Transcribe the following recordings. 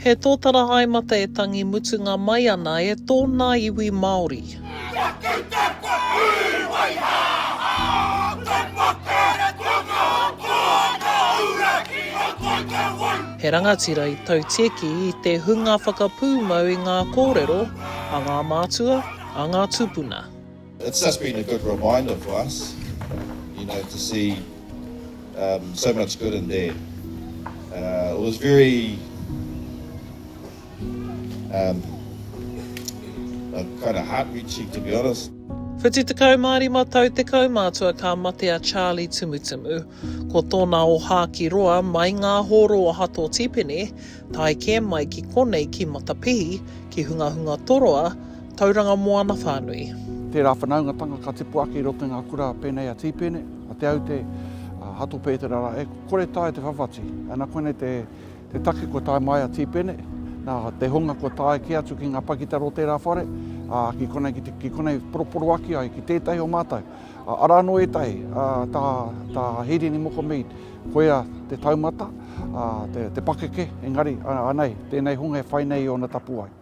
He tōtara haemata e tangi mutunga mai ana e tōna iwi Māori. He rangatira i tautieki i te hunga whakapūmau i ngā kōrero a ngā mātua, a ngā tūpuna. It's just been a good reminder for us, you know, to see so much good in Dad. It was very. Whitu tekau mā rima tau te kaumātua ka mate a Charlie Tumutumu. Ko tōna ohā ki roa mai ngā hōro o Hato Tipene, tae kē mai ki konei ki Matapihi, ki Hungahunga Toroa, Tauranga Moana whānui. Tērā whanaungatanga ka tipu ake i roto i ngā kura pēnei a Tīpene, a Te Aute, a Hato Pētera rā, e kore taea te whawhati. Ana koinei te Te take kua tae mai a Tīpene, nā, te hunga kua tae kē atu ki ngā pakitara o tērā whare, ā, ki konei, ki, ki konei poroporoaki ai ki tētahi o mātou. Ā, arā anō ētahi, ā, tā, tā Hirini Moko Mead, koia te taumata, ā, te, te pakeke, engari, ā, anei, tēnei hunga e whai nei i ōna tapuwae.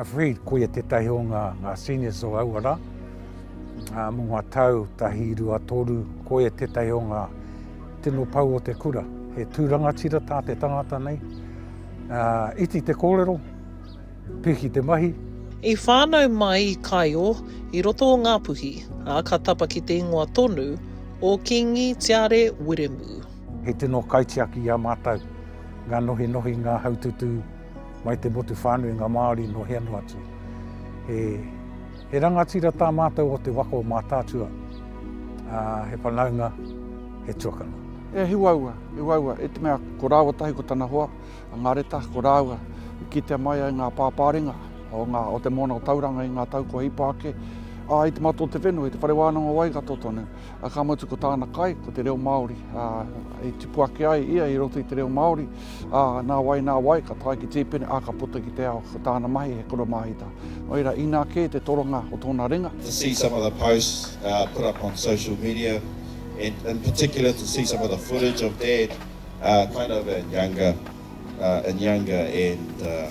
Afraid, koia tētahi o ngā, ngā seniors o aua rā. Uh, mō ngā tau tahi rua toru, koia tētahi o ngā tino pau o te kura. He tūrangatira tā te tangata nei. Uh, iti te kōrero, piki te mahi. I whānau mai i Kaio, i roto o Ngāpuhi, ā, ka tapa ki te ingoa tonu o Kīngi Tiare Wiremu. He tino kaitiaki i a mātou, ngā nohinohi, ngā haututu, Mai te motu whānui ngā Māori nō hea noa atu. He, he rangatira tā mātou o te waka o Mātaatua, ā, he whanaunga, he tuakana. E Hiwaua, Hiwaua, i te mea ko rāua tahi ko tana hoa, a Ngareta, ko rāua i kitea mai ai ngā pāpāringa o, ngā, o te moana o Tauranga i ngā tau kua hipa ake, ā, i te matua o te whenua, i te whare wānanga o Waikato tonu. ā, ka mutu ko tāna kai, ko te reo Māori, ā, i tipu ake ai ia i roto i te reo Māori, ā, nā wai, nā wai, ka tae ki Tīpene, ā, ka puta ki te ao, ko tāna mahi he koromāhita. Nō reira, inā kē te toronga o tōna ringa. To see some of the posts uh, put up on social media, and in particular to see some of the footage of Dad uh, kind of in younger, uh, in younger and uh,